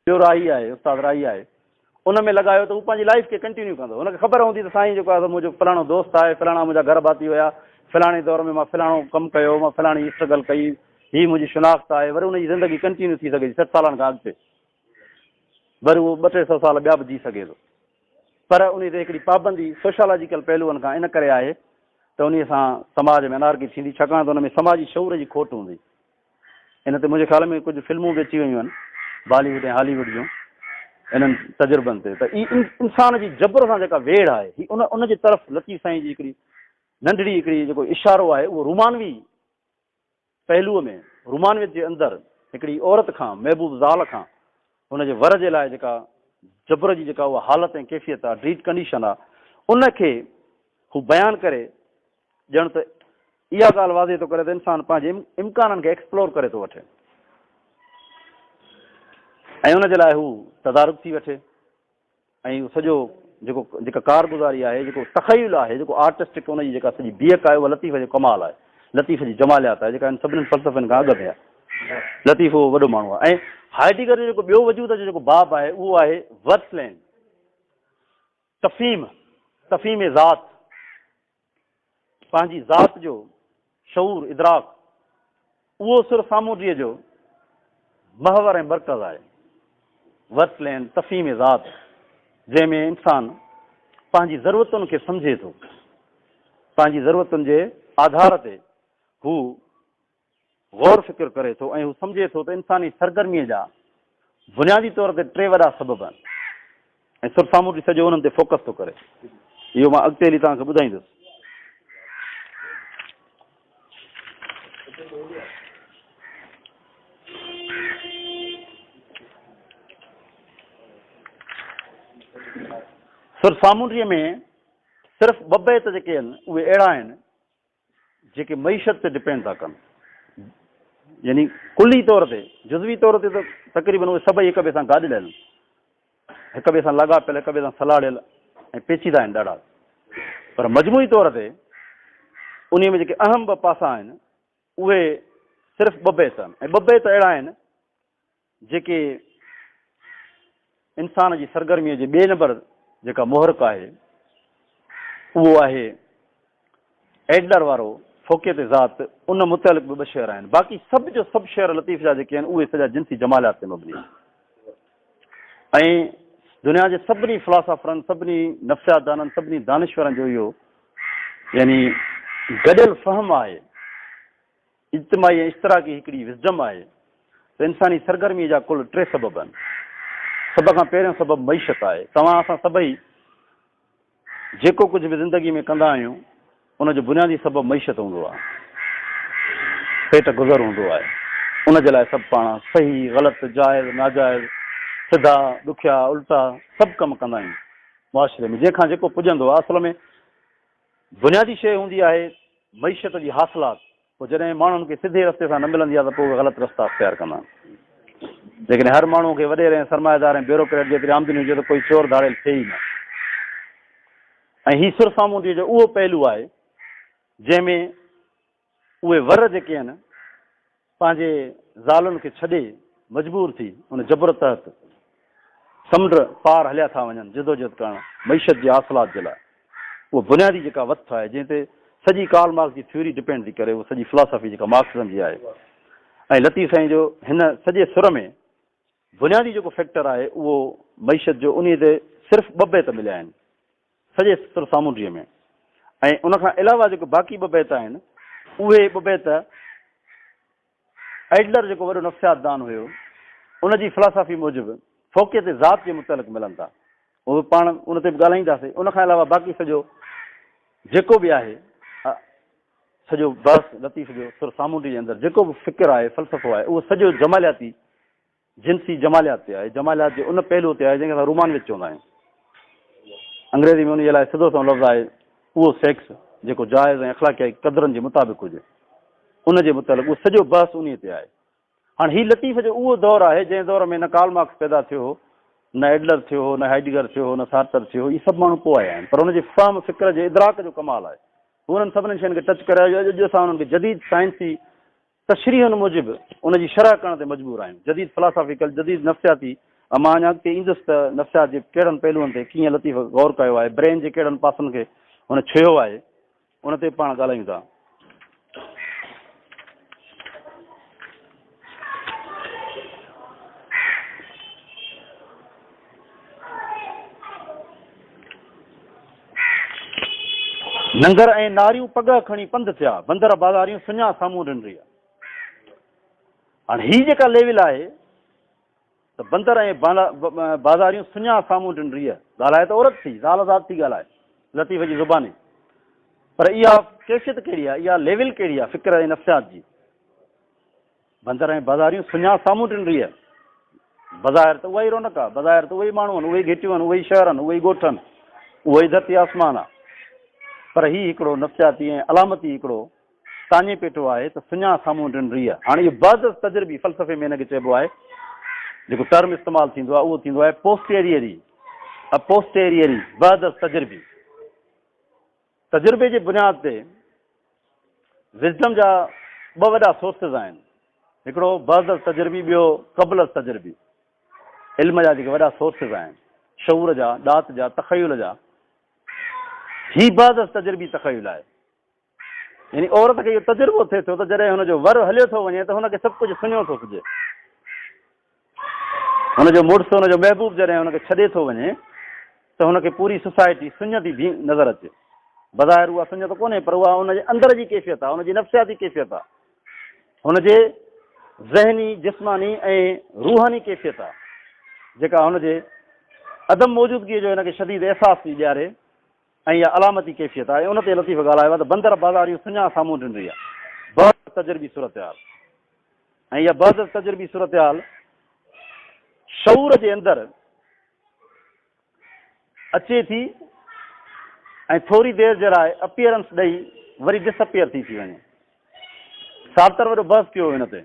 ٻيو راء هي آهي استاد راء هي آهي ان ۾ لڳايو ته هو پنهنجي لائف کي ڪنٽينيو ڪندو هن کي خبر هوندي ته سائين جيڪو آهي منهنجو فلاڻو دوست آهي فلاڻا منهنجا گهر ڀاتي هيا فلاڻي دور ۾ مان فلاڻو ڪم ڪيو مان فلاڻي اسٽرگل ڪئي هي منهنجي شناخت آهي وري ان جي زندگي ڪنٽينيو ٿي سگهي ٿي سٺ سالن کان اڳتي وري اهو ٻه ٽي سو سال ٻيا به جي سگهي ٿو پر ان تي هڪڙي پابندي سوشالاجيڪل پهلوئن کان ان ڪري آهي ته ان سان سماج ۾ انارڪي ٿيندي ڇاڪاڻ ته ان ۾ سماجي شعور جي کوٽ هوندي ان تي منهنجي خيال ۾ ڪجهه فلمون به اچي ويون آهن بالي ووڊ ۽ هالي ووڊ جون انهن تجربن تي ته هي انسان جي جبر سان جيڪا ويڙهه آهي هي ان ان جي طرف لطيف سائين جي هڪڙي ننڍڙي هڪڙي جيڪو اشارو آهي اهو رومانوي پهلوء ۾ رومانويت جي اندر هڪڙي عورت کان محبوب زال کان ان جي ور جي لاء جيڪا جبر جي جيڪا اها حالت ۽ ڪيفيت آهي ڊريٽ ڪنڊيشن آهي ان کي هو بيان ڪري ڄڻ ته اها ڳالهه واضح ٿو ڪري ته انسان پنهنجي امڪانن کي ايڪسپلور ڪري ٿو وٺي ۽ ان جي لاء هو تدارڪ ٿي وٺي ۽ سڄو جيڪو جيڪا ڪارگزاري آهي جيڪو تخيل آهي جيڪو آرٽسٽڪ ان جي جيڪا سڄي بيهڪ آهي اها لطيف جو ڪمال آهي لطيف جي جماليات آهي جيڪا سڀني فلسفن کان اڳ ۾ آهي لطيف اهو وڏو ماڻهو آهي هائيڊيگر جو جيڪو ٻيو وجود جو جيڪو باب آهي اهو آهي ورس لين تفیم تفیم ذات پنهنجي ذات جو شعور، ادراڪ، اهو سر سامونڊيء جو محور ۽ مرڪز آهي. ورسلين تفهيم ذات، جنهن ۾ انسان پنهنجي ضرورتن کي سمجهي ٿو، پنهنجي ضرورتن جي آڌار تي هو غور فڪر ڪري ٿو ۽ هو سمجهي ٿو ته انساني سرگرميء جا بنيادي طور تي ٽي وڏا سبب آهن ۽ سر سامونڊي سڄو انهن تي فوڪس ٿو ڪري. اهو مان اڳتي هلي توهان کي ٻڌائيندس. سر سامونڊي ۾ صرف ٻه بيت جيڪي آهن اهي اهڙا آهن جيڪي معيشت تي ڊپينڊ ٿا ڪن يعني ڪلي طور تي جزوي طور تي ته تقريبن اهي سڀئي هڪ ٻئي سان گڏ ڏيل هڪ ٻئي سان لڳا پيل هڪ ٻئي سان سلاڙيل ۽ پيچيدا آهن ڏاڍا پر مجموعي طور تي انهي ۾ جيڪي اهم ٻه پاسا آهن اهي صرف ٻه بيت آهن ۽ ٻه بيت اهڙا آهن جيڪي انسان جي سرگرميء جي ٻئي نمبر جيڪا محرڪ آهي اهو آهي ايڊلر وارو فوقيت ذات ان متعلق به ٻه شعر آهن باقي سڀ جو سڀ شعر لطيف جا جيڪي آهن اهي سڄا جنسي جمالات تي مبني آهن ۽ دنيا جي سڀني فلاسافرن سڀني نفسيات دانن سڀني دانشورن جو اهو يعني گڏيل فهم آهي اجتماعي ۽ اشتراڪي هڪڙي وسڊم آهي ته انساني سرگرمي جا ڪل ٽي سبب آهن. سڀ کان پهريون سبب معيشت آهي. توهان اسان سڀئي جيڪو ڪجهه به زندگي ۾ ڪندا آهيون ان جو بنيادي سبب معيشت هوندو آهي. پيٽ گذر هوندو آهي. ان جي لاء سڀ پاڻ صحيح، غلط، جائز، ناجائز، سڌا، ڏکيا، الٽا سڀ ڪم ڪندا آهيون. معاشري ۾ جنهن کان جيڪو پڄندو آهي اصل ۾ بنيادي شيء هوندي آهي معيشت جي حاصلات، پوء جڏهن ماڻهن کي سڌي رستي سان نه ملندي آهي ته پوء اهي غلط رستا اختيار ڪندا آهن. جيڪڏهن هر ماڻهوء کي وڏيري ۽ سرمائيدار ۽ بيوروڪريٽ جيتري آمدني هجي ته ڪوئي چور ڌاڙيل ٿئي ئي نه. ۽ هي سرسامونڊيء جو اهو پهلو آهي جنهن ۾ اهي ور جيڪي هن پنهنجي زالن کي ڇڏي مجبور ٿي ان جبر تحت سمنڊ پار هليا ٿا وڃن جدوجهد ڪرڻ معيشت جي حاصلات جي لاء اهو بنيادي جيڪا وٿ آهي جنهن تي سڄي ڪارل مارڪس جي ٿيوري ڊپينڊ ٿي ڪري اهو سڄي فلاسافي جيڪا مارڪسزم جي آهي ۽ لطيف سائين جو هن سڄي سر ۾ بنيادي جيڪو فيڪٽر آهي اهو معيشت جو انهي تي صرف ٻه بيت مليا آهن سڄي سر سامونڊيء ۾. ۽ ان کان علاوه جيڪي باقي ٻه بيت آهن، اهي ٻه بيت ايڊلر جيڪو وڏو نفسيات دان هيو، ان جي فلاسافي موجب فوقيت ذات جي متعلق ملن ٿا. اهي پاڻ ان تي به ڳالهائينداسين. ان کان علاوه باقي سڄو جيڪو به آهي، سڄو بحث لطيف جو سر سامونڊيء جي اندر جيڪو به فڪر آهي، فلسفو آهي، اهو سڄو جمالياتي جنسي جماليات تي آهي، جماليات جي ان پهلوء تي آهي جنهن کي اسان رومانويت چوندا آهيون. انگريزي ۾ انهيء لاء سڌو سنئون لفظ آهي، اهو سيڪس جيڪو جائز ۽ اخلاقيائي قدرن جي مطابق هجي. ان جي متعلق اهو سڄو بحث انهيء تي آهي. هاڻ هي لطيف جو اهو دور آهي جنهن دور ۾ نه ڪارل مارڪس پيدا ٿيو هو، نه ايڊلر ٿيو هو، نه هائيڊگر ٿيو هو، نه سارتر ٿيو هو، اهي سڀ ماڻهو پوء آيا آهن، پر هن جي فهم فڪر جي ادراڪ جو ڪمال آهي. هو انهن سڀني شين کي ٽچ ڪري آيو جو اڄ اسان انهن کي جديد سائنسي تشريحن موجب ان جي شرح ڪرڻ تي مجبور آهيون. جديد فلاسافيڪل، جديد نفسياتي، ۽ مان اڃا اڳتي ايندس ته نفسيات جي ڪهڙن پهلوئن تي ڪيئن لطيف غور ڪيو آهي، برين جي ڪهڙن پاسن کي هن ڇهيو آهي، ان تي به پاڻ ڳالهايون ٿا. ننگر ۽ ناريون پڳهه کڻي پنڌ ٿيا، بندر بازاريون سڃا سامهون رن رهيا. هاڻ هي جيڪا ليول آهي ته بندر ۽ بازاريون سڃا سامهون رن رهيا. ڳالهائي ته عورت ٿي، زال ذات ٿي ڳالهائي، لطيف جي زباني. پر اها ڪيفيت ڪهڙي آهي، اها ليول ڪهڙي آهي فڪر ۽ نفسيات جي. بندر ۽ بازاريون سڃا سامهون ٽن ريء. بظاهر ته اها ئي رونق آ، بظاهر ته اهي ئي ماڻهو آهن، اهي ئي گهٽيون آهن، اهي ئي شهر آهن، اهي ئي ڳوٺ آهن، اهو ئي ڌرتي آسمان آ. پر هي هڪڙو نفسياتي ۽ علامتي هڪڙو تاڃي پيٽو آهي ته سڃا سامهون ٽن ريء. هاڻ اهو بعد از تجربي فلسفي ۾ ان کي چئبو آهي، جيڪو ٽرم استعمال ٿيندو آهي، اهو ٿيندو آهي پوسٽيريئري، اپوسٽيريئري، بعد از تجربي. تجربي جي بنياد تي وزڊم جا ٻه وڏا سورسز آهن، هڪڙو بعد التجربي ٻيو قبل التجربي. علم جا جيڪي وڏا سورسز آهن، شعور جا، ڏات جا، تخيل جا، هي بعد التجربي تخيل آهي. يعني عورت کي اهو تجربو ٿئي ٿو ته جڏهن هن جو ور هليو ٿو وڃي ته هن کي سڀ ڪجهه سڃو ٿو سجهي. هن جو مڙس، هن جو محبوب جڏهن هن کي ڇڏي ٿو وڃي ته هن کي پوري سوسائٽي سڃ ٿي بي نظر اچي. بظاهر اها سڃ ته ڪونهي پر اها هن جي اندر جي ڪيفيت آهي، هن جي نفسياتي ڪيفيت آهي، هن جي ذهني، جسماني ۽ روحاني ڪيفيت آهي جيڪا هن جي عدم موجودگيء جو هن کي شديد احساس ٿي ڏياري. ۽ اها علامتي ڪيفيت آهي. ان تي لطيف ڳالهايو آهي ته بندر بازاريون سڃاڻ سامهون ڊنري آهي. بعض تجربي صورتحال ۽ اها بعض تجربي صورتحال شعور جي اندر اچي ٿي ۽ ٿوري دير جي لاء اپيئرنس ڏئي وري ڊس اپيئر ٿي ٿي وڃي. سارتر وڏو بحث ڪيو هو ان تي.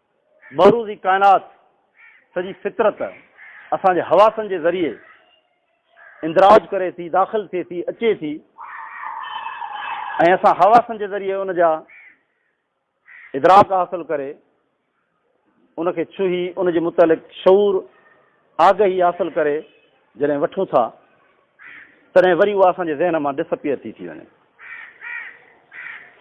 معروضي ڪائنات، سڄي فطرت، اسان جي حواسن جي ذريعي اندراج ڪري ٿي، داخل ٿئي ٿي، اچي ٿي ۽ اسان حواسن جي ذريعي ان جا ادراڪ حاصل ڪري، ان کي ڇهي، ان جي متعلق شعور، آگهي حاصل ڪري جڏهن وٺون ٿا تڏهن وري اها اسان جي ذهن مان ڊس اپيئر ٿي ٿي وڃي.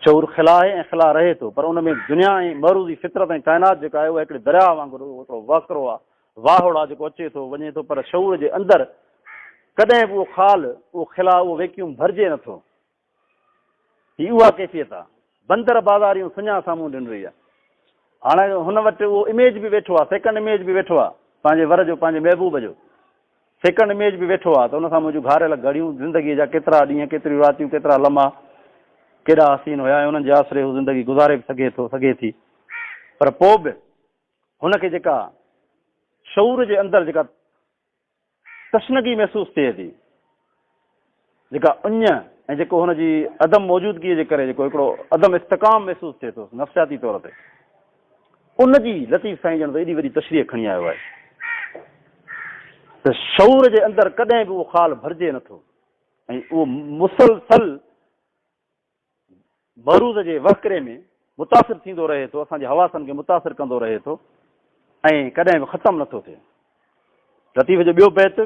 شعور خلا آهي ۽ خلا رهي ٿو پر ان ۾ دنيا ۽ معروضي فطرت ۽ ڪائنات جيڪا آهي اها هڪڙي درياهه وانگر هڪڙو وهڪرو آهي، واهوڙ آهي جيڪو اچي ٿو وڃي ٿو پر شعور جي اندر ڪڏهن به اهو خال، اهو خلا، اهو ويڪيوم ڀرجي نه ٿو. هي اها ڪيفيت آ. بندر بازاريون سڃاهه سامهون ڏن رهي آ. هاڻ هن وٽ اهو اميج به ويٺو آ، سيڪنڊ اميج به ويٺو آ، پنهنجي ور جو، پنهنجي محبوب جو سيڪنڊ اميج به ويٺو آ ته ان سان منهنجون گهاريل گهڙيون، زندگيء جا ڪيترا ڏينهن، ڪيتريون راتيون، ڪيترا لمحا ڪيڏا حسين هيا ۽ انهن جي آسري هو زندگي گذاري به سگهي ٿو، سگهي ٿي. پر پوء به هن کي جيڪا شعور جي اندر جيڪا. تشنگي محسوس ٿئي ٿي جيڪا اڃ ۽ جيڪو هن جي عدم موجودگيء جي ڪري جيڪو هڪڙو عدم استقام محسوس ٿئي ٿو نفسياتي طور تي ان جي لطيف سائين ڄڻ ته ايڏي وڏي تشريح کڻي آيو آهي ته شعور جي اندر ڪڏهن به اهو خال ڀرجي نٿو ۽ اهو مسلسل بروز جي وهڪري ۾ متاثر ٿيندو رهي ٿو، اسان جي حواسن کي متاثر ڪندو رهي ٿو ۽ ڪڏهن به ختم نه ٿو ٿئي. لطيف جو ٻيو بيت.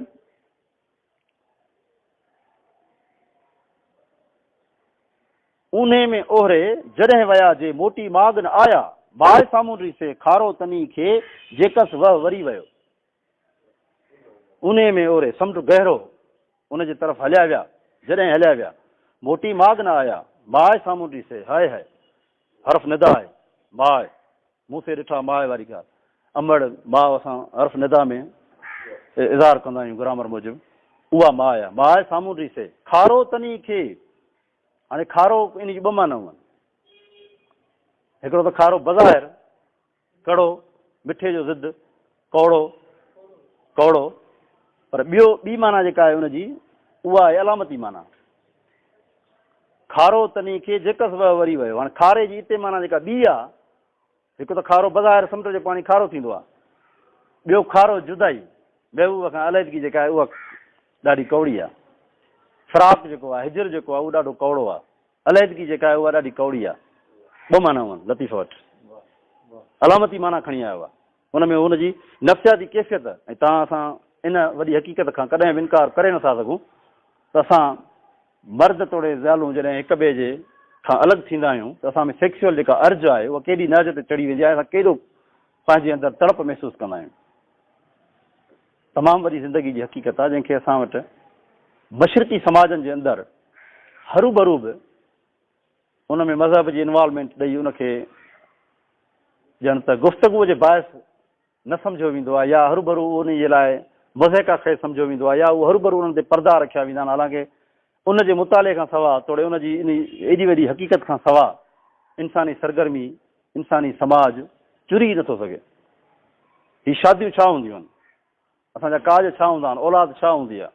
اونهي ۾ اوهري جڏهن ويا جي موٽي ماڳ نه آيا، باهه سامونڊري سي کارو تني کي جيڪس وه وري ويو. انهيء ۾ اوري سمنڊ گهرو ان جي طرف هليا ويا، جڏهن هليا ويا، موٽي ماڳ نه آيا، ماء سامهون ڏسي، هاء هاء! حرف ندا آهي، ماء! مون سي ڏٺا ماء واري ڳالهه، امڙ، ماء اسان حرف ندا ۾ اظهار ڪندا آهيون گرامر موجب، اها ماء آهي، ماء سامهون ڏسي، کارو تني کي، هاڻي کارو ان جي ٻه معنائون آهن، هڪڙو ته کارو بظاهر، ڪڙو، مٺي جو ضد، ڪوڙو، ڪوڙو، پر ٻيو ٻي معنيٰ جيڪا آهي ان جي اها آهي علامتي معنيٰ. کارو تني کي جيڪس وهه وري ويو. هاڻي کاري جي اتي معنيٰ جيڪا ٻي آهي، هڪ ته کارو بظاهر سمنڊ جو پاڻي کارو ٿيندو آهي، ٻيو کارو جدائي، محبوب کان عليحدگي جيڪا آهي اها ڏاڍي ڪوڙي آهي. فراق جيڪو آهي، هجر جيڪو آهي اهو ڏاڍو ڪوڙو آهي. علحدگي جيڪا آهي اها ڏاڍي ڪوڙي آهي. ٻه معنائون آهن لطيفه وٽ. علامتي معنيٰ کڻي آيو آهي. ان ۾ هن جي نفسياتي ڪيفيت ۽ تان اسان ان وڏي حقيقت کان ڪڏهن به انڪار ڪري نه ٿا سگهون ته اسان مرد توڙي زيالون جڏهن هڪ ٻئي جي کان الڳ ٿيندا آهيون ته اسان ۾ سيڪسيول جيڪا ارج آهي اها ڪيڏي نهج تي چڙهي ويندي آهي ۽ اسان ڪيڏو پنهنجي اندر تڙپ محسوس ڪندا آهيون. تمام وڏي زندگي جي حقيقت آ جنهن کي اسان وٽ مشرقي سماجن جي اندر هروڀرو به ان ۾ مذهب جي انوالومينٽ ڏئي ان کي ڄڻ ته گفتگو جي باعث نه سمجهيو ويندو آ يا هروڀرو ان جي لاء مضحڪه خيز سمجهيو ويندو آ يا هو هروڀرو انهن تي پردا رکيا ويندا آهن حالانڪه ان جي مطالعي کان سواء توڙي ان جي انهي ايڏي وڏي حقيقت کان سواء انساني سرگرمي، انساني سماج چري ئي نٿو سگهي. هي شاديون ڇا هونديون آهن؟ اسان جا ڪاڄ ڇا هوندا آهن؟ اولاد ڇا هوندي آهي؟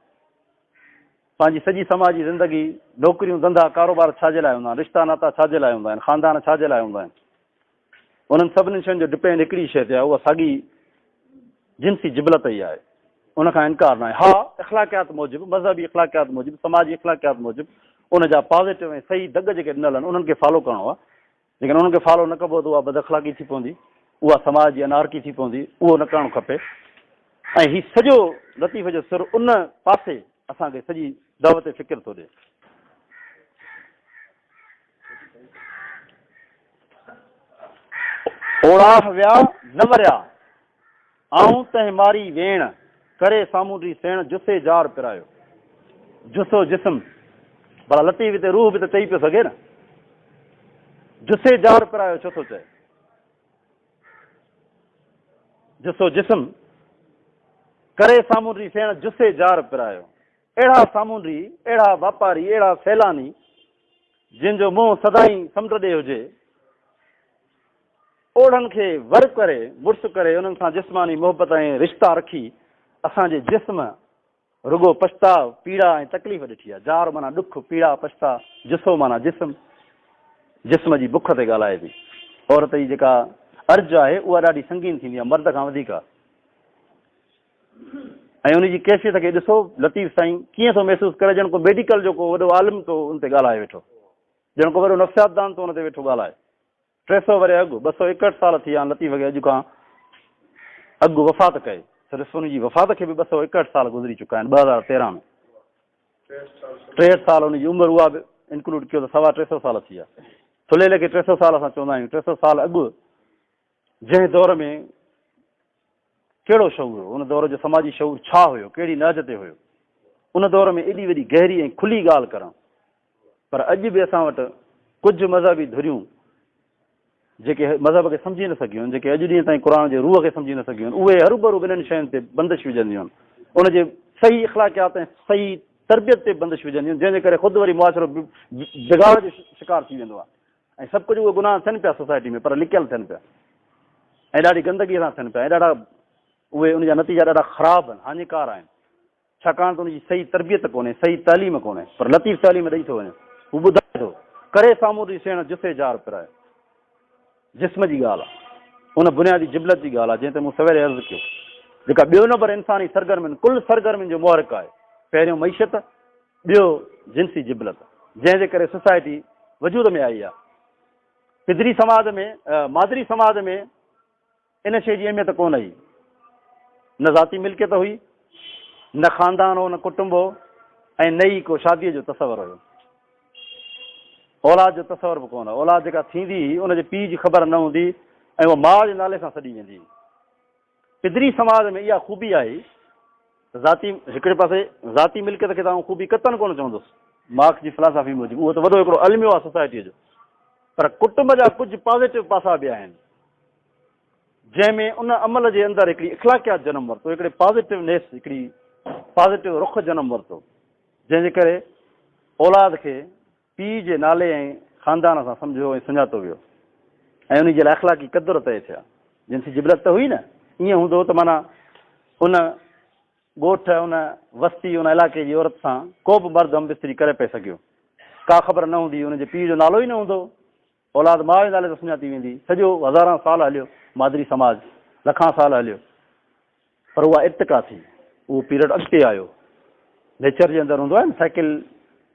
پنهنجي سڄي سماجي زندگي، نوڪريون، ڌنڌا، ڪاروبار ڇا جي لاء هوندا آهن؟ رشتا ناتا ڇا جي لاء هوندا آهن؟ خاندان ڇا جي لاء هوندا آهن؟ انهن سڀني شين جو ڊپينڊ هڪڙي ئي شيء تي آهي، اها ساڳي جنسي جبلت ئي آهي. ان کان انڪار ناهي. ها، اخلاقيات موجب، مذهبي اخلاقيات موجب، سماجي اخلاقيات موجب، ان جا پازيٽو ۽ صحيح دڳ جيڪي ڏنل آهن، انهن کي فالو ڪرڻو آهي. جيڪڏهن انهن کي فالو نه ڪبو ته اها بداخلاقي ٿي پوندي. اها سماج جي انارڪي ٿي پوندي. اهو نه ڪرڻ کپي. ۽ هي سڄو لطيفي جو سر ان پاسي اسان کي سڄي دعوت فڪر ٿو ڏي. اوڙاهه ويا نه وريا، آئون تنهن ماري ويڻ، ڪري سامونڊي سيڻ جسي جار پرايو. جسو جسم، ڀلا لطيف هتي روح به ته چئي پيو سگهي نه. جسي جار پرايو ڇو ٿو چئي؟ جسو جسم، ڪري سامونڊي سيڻ جسي جار پرايو. اهڙا سامونڊي، اهڙا واپاري، اهڙا سيلاني، جن جو منهن سدائين سمنڊ ڏي هجي، اوڙن کي ور ڪري، مڙس ڪري، انهن سان جسماني محبت ۽ رشتا رکي، اسان جي جسم رڳو پڇتاء، پيڙا ۽ تڪليف ڏٺي آهي. جار معنيٰ ڏک، پيڙا، پڇتاء، جسو معنيٰ جسم، جسم جي بک تي ڳالهائي ٿي. عورت جي جيڪا ارج آهي، اها ڏاڍي سنگين ٿيندي آهي، مرد کان وڌيڪ. ۽ ان جي ڪيفيت کي ڏسو لطيف سائين ڪيئن ٿو محسوس ڪري ڄڻ ڪو ميڊيڪل جو ڪو وڏو عالم ٿو ان تي ڳالهائي ويٺو ڄڻ ڪو وڏو نفسياتدان ٿو ان تي ويٺو ڳالهائي ٽي سو وري اڳ ٻه سو ايڪهٺ سال ٿي آن لطيف کي اڄ کان اڳ وفات ڪئي صرف ان جي وفات کي به ٻه سو ايڪهٺ سال گذري چڪا آهن ٻه هزار تيرهن ۾ ٽيهٺ سال ان جي عمر اها به انڪلوڊ ڪيو ته سوا ٽي سو سال ٿي ويا ٿلهيلي کي ٽي سو سال اسان چوندا آهيون ٽي سو سال اڳ جنهن دور ۾ ڪهڙو شعور هو؟ ان دور جو سماجي شعور ڇا هيو؟ ڪهڙي نهج تي هيو؟ ان دور ۾ ايڏي وڏي گهري ۽ کلي ڳالهه ڪرڻ. پر اڄ به اسان وٽ ڪجهه مذهبي ڌريون جيڪي مذهب کي سمجهي نه سگهيون آهن، جيڪي اڄ ڏينهن تائين قرآن جي روح کي سمجهي نه سگهيون آهن، اهي هروڀرو ٻنهن شين تي بندش وجهنديون آهن. ان جي صحيح اخلاقيات ۽ صحيح تربيت تي بندش وجهنديون آهن، جنهن جي ڪري خود وري معاشرو بگاڙ جو شڪار ٿي ويندو آهي. ۽ سڀ ڪجهه اهي گناهه ٿين پيا سوسائٽي ۾ پر لڪيل ٿين پيا ۽ ڏاڍي گندگي سان ٿين پيا ۽ ڏاڍا اهي ان جا نتيجا ڏاڍا خراب آهن هاڃيڪار آهن ڇاڪاڻ ته ان جي صحيح تربيت ڪونهي صحيح تعليم ڪونهي پر لطيف تعليم ڏئي ٿو وڃي هو ٻڌائي ٿو ڪري سامون ڏي سيڻ جسي جار پرائي جسم جي ڳالهه آهي ان بنيادي جبلت جي ڳالهه آهي جنهن تي مون سويري عرض ڪيو جيڪا ٻيو نمبر انساني سرگرمين ڪل سرگرمين جو محرڪ آهي پهريون معيشت ٻيو جنسي جبلت جنهن جي ڪري سوسائٽي وجود ۾ آئي آ. پدري سماج ۾ مادري سماج ۾ ان شيء جي اهميت ڪونه هئي. نه ذاتي ملڪيت هئي، نه خاندان هو، نه ڪٽنب هو ۽ نه ئي ڪو شاديء جو تصور هيو. اولاد جو تصور به ڪونه. اولاد جيڪا ٿيندي هئي ان جي پيء جي خبر نه هوندي ۽ اها ماء جي نالي سان سڏي ويندي هئي. پدري سماج ۾ اها خوبي آهي ته ذاتي هڪڙي پاسي ذاتي ملڪيت کي ته آئون خوبي قطعاً ڪونه چوندس، مارڪس جي فلاسافي موجب اهو ته وڏو هڪڙو الميو آهي سوسائٽيء جو، پر ڪٽنب جا ڪجهه پازيٽو پاسا به آهن، جنهن ۾ ان عمل جي اندر هڪڙي اخلاقيات جنم ورتو، هڪڙي پازيٽو نيس، هڪڙي پازيٽو رخ جنم ورتو، جنهن جي ڪري اولاد کي پيء جي نالي ۽ خاندان سان سمجهيو ۽ سڃاتو ويو ۽ انهي جي لاء اخلاقي قدر طئي ٿيا. جنسي جبلت ته هئي نه، ائين هوندو ته معنيٰ ان ڳوٺ، ان وستي، ان علائقي جي عورت سان ڪوبه مرد همبستري ڪري پئي سگهيو. ڪا خبر نه هوندي، انهي جي پيء جو نالو ئي نه هوندو. اولاد ماء جي نالي سان سڃاتي ويندي. سڄو هزاران سال هليو مادري سماج لکان سال هليو پر اها ارتقا ٿي اهو پيرڊ اڳتي آيو نيچر جي اندر هوندو آهي نه سائيڪل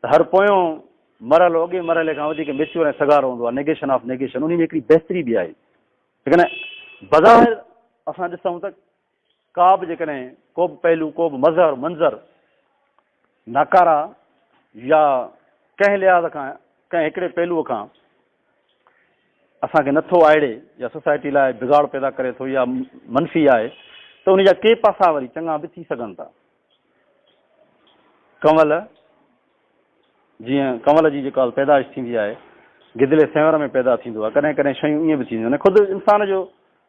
ته هر پويون مرحلو اڳئين مرحلي کان وڌيڪ ميچور ۽ سگهارو هوندو آهي نيگيشن آف نيگيشن انهي ۾ هڪڙي بهتري به آئي ليڪن بظاهر اسان ڏسون ته ڪابه جيڪڏهن ڪوبه پهلو، ڪوبه مظهر، منظر، ناڪاره يا ڪنهن لحاظ کان ڪنهن هڪڙي پهلوء کان اسان کي نٿو آئڙي يا سوسائٽي لاء بگاڙ پيدا ڪري ٿو يا منفي آهي ته ان جا ڪي پاسا وري چڱا به ٿي سگهن ٿا. ڪنول جيئن ڪنول جي جيڪا پيدائش ٿيندي آهي گدلي سينور ۾ پيدا ٿيندو آهي ڪڏهن ڪڏهن شيون ائين به ٿينديون آهن خود انسان جو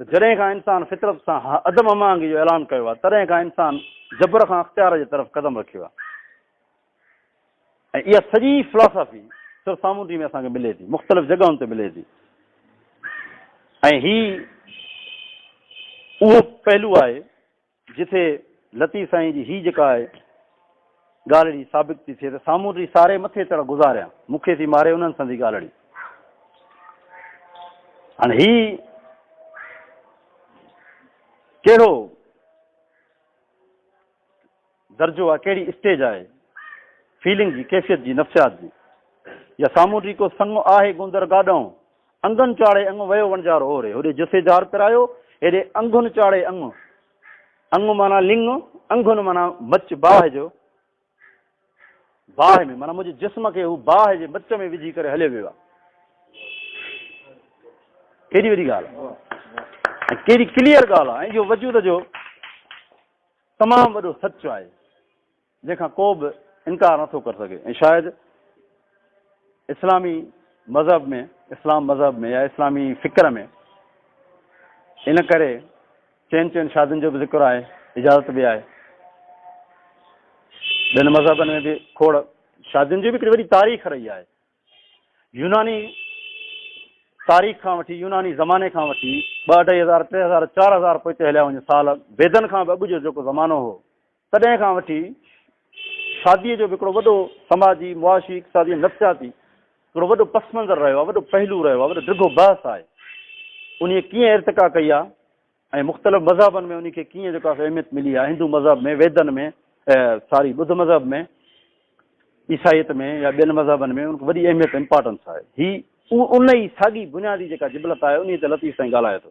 ته جڏهن کان انسان فطرت سان عدم هماهنگي جو اعلان ڪيو آهي تڏهن کان انسان جبر کان اختيار جي طرف قدم رکيو آهي ۽ اها سڄي فلاسافي سر سامونڊي ۾ اسان کي ملي ٿي مختلف جڳهن تي ملي ٿي ۽ هي اهو پهلو آهي جتي لطيف سائين جي هي جيڪا آهي ڳالهڙي ثابت ٿي ٿئي ته سامونڊي ساري مٿي تڙ گذاريا مون کي ٿي ماري انهن سندي ڳالهڙي هاڻي هي ڪهڙو درجو آهي ڪهڙي اسٽيج آهي فيلنگ جي ڪيفيت جي نفسيات جي يا سامونڊي ڪو سڱو آهي گندر گاڏئون انگن چاڙهي انگ ويو وڻجار اوري. هوڏي جسي جار پرايو، هيڏي انگن چاڙهي انگ. انگ معنيٰ لڱ، انگن معنيٰ مچ باهه جو. باهه ۾ معنيٰ منهنجي جسم کي هو باهه جي مچ ۾ وجهي ڪري هليو ويو آهي. ڪيڏي وڏي ڳالهه آهي. ڪيڏي ڪليئر ڳالهه آهي. اهو وجود جو تمام وڏو سچ آهي. جنهن کان ڪو به انڪار نٿو ڪري سگهي ۽ شايد اسلامي مذهب ۾ اسلام مذهب ۾ يا اسلامي فڪر ۾ ان ڪري چئن چئن شادين جو به ذڪر آهي اجازت به آهي ٻين مذهبن ۾ به کوڙ شادين جي به هڪڙي وڏي تاريخ رهي آهي يوناني تاريخ کان وٺي يوناني زماني کان وٺي ٻه اڍائي هزار ٽي هزار چار هزار پوئتي هليا وڃن سال ويدن کان به اڳ جو جيڪو زمانو هو تڏهن کان وٺي شاديء جو به هڪڙو وڏو سماجي، معاشي، اقتصادي ۽ نفسياتي هڪڙو وڏو پس منظر رهيو آهي، وڏو پهلو رهيو آهي، وڏو ڊگهو بحث آهي. انهيء ڪيئن ارتقا ڪئي آهي ۽ مختلف مذهبن ۾ انهيء کي ڪيئن جيڪو آهي اهميت ملي آهي، هندو مذهب ۾، ويدن ۾، ساري ٻڌ مذهب ۾، عيسائيت ۾ يا ٻين مذهبن ۾ ان کي وڏي اهميت، امپارٽنس، آهي. هي انهيء ساڳي بنيادي جيڪا جبلت آهي، انهيء تي لطيف سائين ڳالهائي ٿو.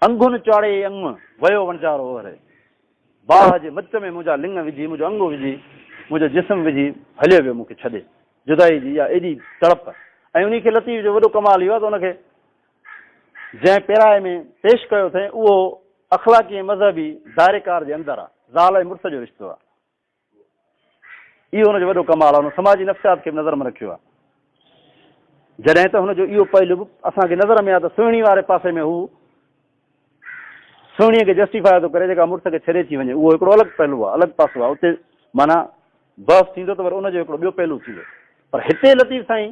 انگهن چاڙهي انگ ويو وڻجارو اهري باهه جي مچ ۾ منهنجا لڱ وجهي منهنجو انگ وجهي منهنجو جسم وجهي هليو ويو مون کي ڇڏي جدائي جي اها ايڏي تڙپ ۽ انهي کي لطيف جو وڏو ڪمال اهو آهي ته ان کي جنهن پيرائي ۾ پيش ڪيو اٿئين اهو اخلاقي ۽ مذهبي دائريڪار جي اندر آهي زال ۽ مڙس جو رشتو آهي اهو هن جو وڏو ڪمال آهي، هن سماجي نفسيات کي به نظر ۾ رکيو آهي. جڏهن ته هن جو اهو پهلو به اسان کي نظر ۾ آهي ته سهڻي واري پاسي ۾ هو سهڻي کي جسٽيفائي ٿو ڪري جيڪا مڙس کي ڇڏي ٿي وڃي، اهو هڪڙو الڳ پهلو آهي، الڳ پاسو آهي، اتي معنيٰ بحث ٿيندو ته وري ان جو هڪڙو ٻيو پهلو ٿيندو، پر هتي لطيف سائين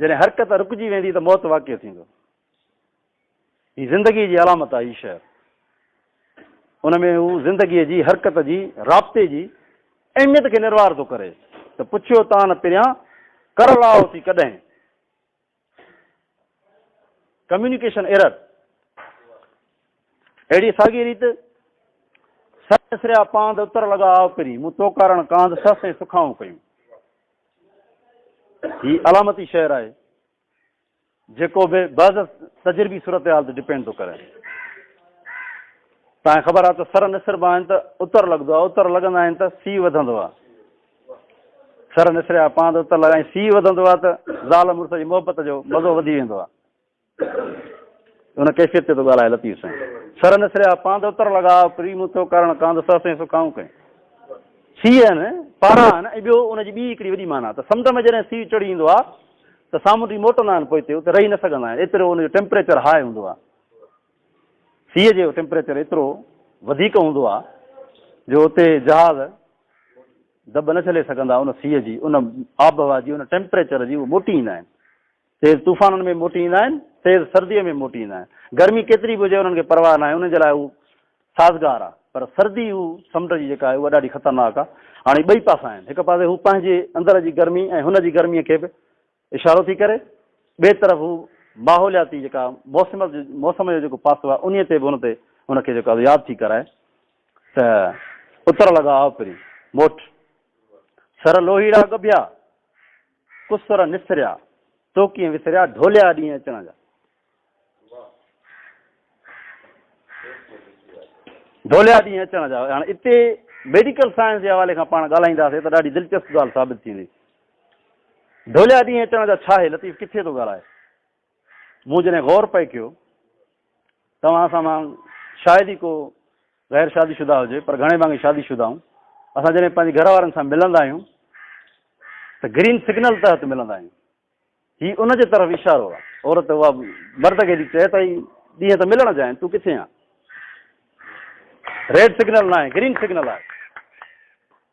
جڏهن حرڪت رڪجي ويندي ته موت واقع ٿيندو. هي زندگي جي علامت آهي. هي شعر ان ۾ هو زندگي جي حرڪت جي رابطي جي اهميت کي نروار ٿو ڪري ته پڇيو تان پريان ڪر لاهو ٿي ڪڏهن ڪميونيڪيشن ايرر اهڙي ساڳي ريت سر سريا پاند اتر لڳا آو پري مون تو ڪارڻ ڪاند سس ۽ سکائون ڪيون هي علامتي شعر آهي جيڪو به بعض تجربي صورتحال تي ڊپينڊ ٿو ڪري تانکي خبر آهي ته سر نسربا آهن ته اتر لڳندو آهي اتر لڳندا آهن ته سي وڌندو آهي سر نسريا پاند اتر لڳائي سي وڌندو آهي ته زال مڙس جي محبت جو مزو وڌي ويندو آهي ان ڪيفيت تي ٿو ڳالهائي لطيف سائين سر نسريا پاند اتر لڳا پري مون ٿو ڪرڻ ڪاند سر سائين سکائون ڪئين سي آهن پارا آهن ۽ ٻيو ان جي ٻي هڪڙي وڏي مانا ته سمنڊ ۾ جڏهن سي چڙهي ايندو آهي ته سامونڊي موٽندا آهن پوء اتي رهي نه سگهندا آهن ايترو ان جو ٽيمپريچر هاء هوندو آهي سيء جو ٽيمپريچر ايترو وڌيڪ هوندو آهي جو اتي جهاز دٻ نه جھلي سگھندا ان سيء جي ان آبهوا جي ان ٽيمپريچر جي اهو موٽي ايندا آهن تيز طوفانن ۾ موٽي ايندا آهن، تيز سرديء ۾ موٽي ايندا آهن. گرمي ڪيتري به هجي انهن کي پرواهه ناهي، انهن جي لاء هو سازگار آهي. پر سردي هو سمنڊ جي جيڪا آهي اها ڏاڍي خطرناڪ آهي. هاڻي ٻئي پاسا آهن. هڪ پاسي هو پنهنجي اندر جي گرمي ۽ هن جي گرميء کي به اشارو ٿي ڪري، ٻئي طرف هو ماحولياتي جيڪا موسم موسم جو جيڪو پاسو آهي انهيء تي به هن تي هن کي جيڪو ياد ٿي ڪرائي ته اتر لڳا آء پرين موٽ سر لوهيڙا ڳڀيا. ڪسر نسريا، تو ڪيئن وسريا، ڍوليا ڏينهن اچڻ جا. ڍوليا ڏينهن اچڻ جا. هاڻي اتي ميڊيڪل سائنس جي حوالي کان پاڻ ڳالهائينداسي ته ڏاڍي دلچسپ ڳالهه ثابت ٿيندي. ڍوليا ڏينهن اچڻ جا ڇا آهي؟ لطيف ڪٿي ٿو ڳالهائي؟ مون جڏهن غور پئي ڪيو، توهان سان مان شايد ئي ڪو غير شادي شده هجي، پر گهڻي ڀاڱي شادي شدهائون، اسان جڏهن پنهنجي گهر وارن سان ملندا آهيون ته گرين سگنل تحت ملندا آهيون. هي ان جي طرف اشارو آهي. عورت اها مرد کي ٿي چئي ته هي ڏينهن ته ملڻ جا آهن، تون ڪٿي آهين؟ ريڊ سگنل ناهي، گرين سگنل آهي.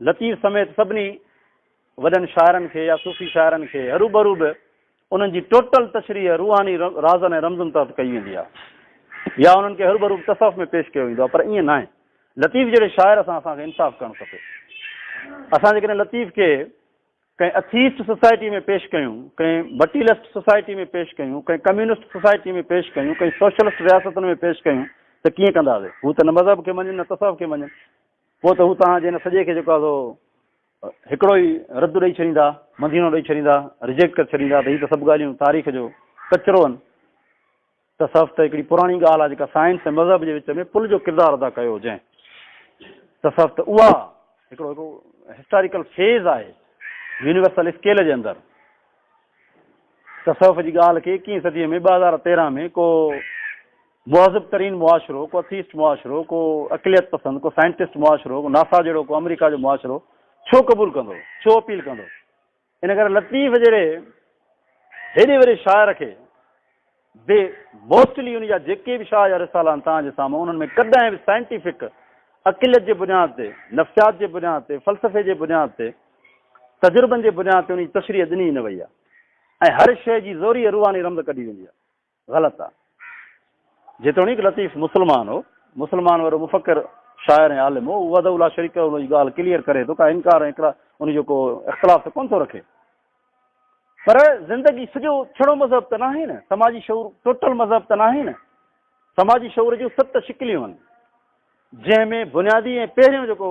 لطيف سميت سڀني وڏن شاعرن کي يا صوفي شاعرن کي هروڀرو به انهن جي ٽوٽل تشريح روحاني رازن ۽ رمزن تحت ڪئي ويندي آهي يا انهن کي هروڀرو تصوف ۾ پيش ڪيو ويندو آهي پر ائين ناهي لطيف جهڙي شاعر سان اسان کي انصاف ڪرڻ کپي اسان جيڪڏهن لطيف کي ڪنهن اٿيسٽ سوسائٽي ۾ پيش ڪيون ڪنهن مٽيلسٽ سوسائٽي ۾ پيش ڪيون ڪنهن ڪميونسٽ سوسائٽي ۾ پيش ڪيون ڪنهن سوشلسٽ رياستن ۾ پيش ڪيون ته ڪيئن ڪنداسي هو ته نه مذهب کي مڃن نه تصوف کي مڃن پوء ته هو توهان جي ان سڄي کي جيڪو آهي سو هڪڙو ئي رد ڏئي ڇڏيندا، مدينو ڏئي ڇڏيندا، ريجيڪٽ ڪري ڇڏيندا ته هي ته سڀ ڳالهيون تاريخ جو ڪچرو آهن. تصوف ته هڪڙي پراڻي ڳالهه آهي جيڪا سائنس ۽ مذهب جي وچ ۾ پل جو ڪردار ادا ڪيو جنهن تصوف ته اها هڪڙو هڪڙو هسٽاريڪل فيز آهي يونيورسل اسڪيل جي اندر تصوف جي ڳالهه کي اڪيهين صدي ۾ ٻه هزار تيرهن ۾ ڪو مهذب ترين معاشرو، ڪو اٿيسٽ معاشرو، ڪو عقليت پسند، ڪو سائنٽسٽ معاشرو، ڪو ناسا جهڙو، ڪو آمريڪا جو معاشرو ڇو قبول ڪندو؟ ڇو اپيل ڪندو؟ ان ڪري لطيف جهڙي هيڏي وڏي شاعر کي به موسٽلي ان جا جيڪي به شاهه جا رسالا آهن توهان جي سامهون انهن ۾ ڪڏهن به سائنٽيفڪ عقليت جي بنياد تي، نفسيات جي بنياد تي، فلسفي جي بنياد تي، تجربن جي بنياد تي ان جي تشريح ڏني ئي نه وئي آهي ۽ هر شيء جي زوريء روحاني رمز ڪڍي ويندي آهي. غلط آ. جيتوڻيڪ لطيف مسلمان هو، مسلمان وڏو مفڪر، شاعر ۽ عالم هو، هو وحده لا شريڪ لهو جي ڳالهه ڪليئر ڪري ٿو، ڪا انڪار ۽ اقرار ان جو ڪو اختلاف ته ڪونه ٿو رکي. پر زندگي سڄو ڇڙو مذهب ته ناهي نه، سماجي شعور ٽوٽل مذهب ته ناهي نه. سماجي شعور جون ست شڪليون آهن، جنهن ۾ بنيادي ۽ پهريون جيڪو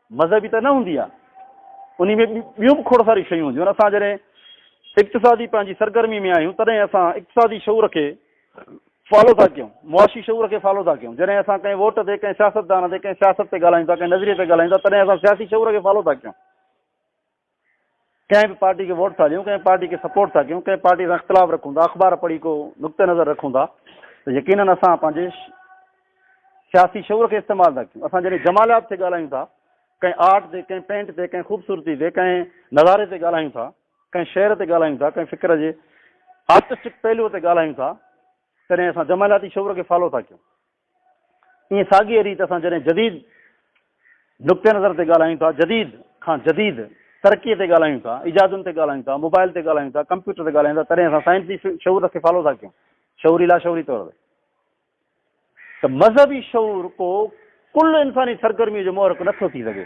مذهبي ته نه هوندي آهي، انهي ۾ ٻيون به کوڙ ساريون شيون هونديون آهن، اسان جڏهن اقتصادي پنهنجي سرگرمي ۾ آهيون تڏهن اسان اقتصادي شعور کي فالو ٿا ڪيون، معاشي شعور کي فالو ٿا ڪيون، جڏهن اسان ڪنهن ووٽ تي، ڪنهن سياستدان تي، ڪنهن سياست تي ڳالهايون ٿا، ڪنهن نظريي تي ڳالهايون ٿا تڏهن اسان سياسي شعور کي فالو ٿا ڪيون. ڪنهن به پارٽي کي ووٽ ٿا ڏيون، ڪنهن پارٽي کي سپورٽ ٿا ڪيون، ڪنهن پارٽي سان اختلاف رکون ٿا، اخبار پڙهي ڪو نقطه نظر رکون ٿا ته يقينن اسان پنهنجي سياسي شعور کي استعمال ٿا ڪيون. اسان جڏهن جماليات تي ڳالهايون ٿا، ڪنهن آرٽ تي، ڪنهن پينٽ تي، ڪنهن خوبصورتي تي، ڪنهن نظاري تي ڳالهايون ٿا، ڪنهن شعر تي ڳالهايون ٿا، ڪنهن فڪر جي آرٽسٽڪ پهلوء تي ڳالهايون ٿا، تڏهن اسان جمالياتي شعور کي فالو ٿا ڪيون. ائين ساڳيء ريت اسان جڏهن جديد نقطي نظر تي ڳالهايون ٿا، جديد کان جديد ترقيء تي ڳالهايون ٿا، ايجادن تي ڳالهايون ٿا، موبائل تي ڳالهايون ٿا، ڪمپيوٽر تي ڳالهايون ٿا، تڏهن اسان سائنسي شعور کي فالو ٿا ڪيون، شعوري لاشعوري طور تي. ته مذهبي شعور ڪو ڪل انساني سرگرميء جو محرڪ نه ٿو ٿي سگهي.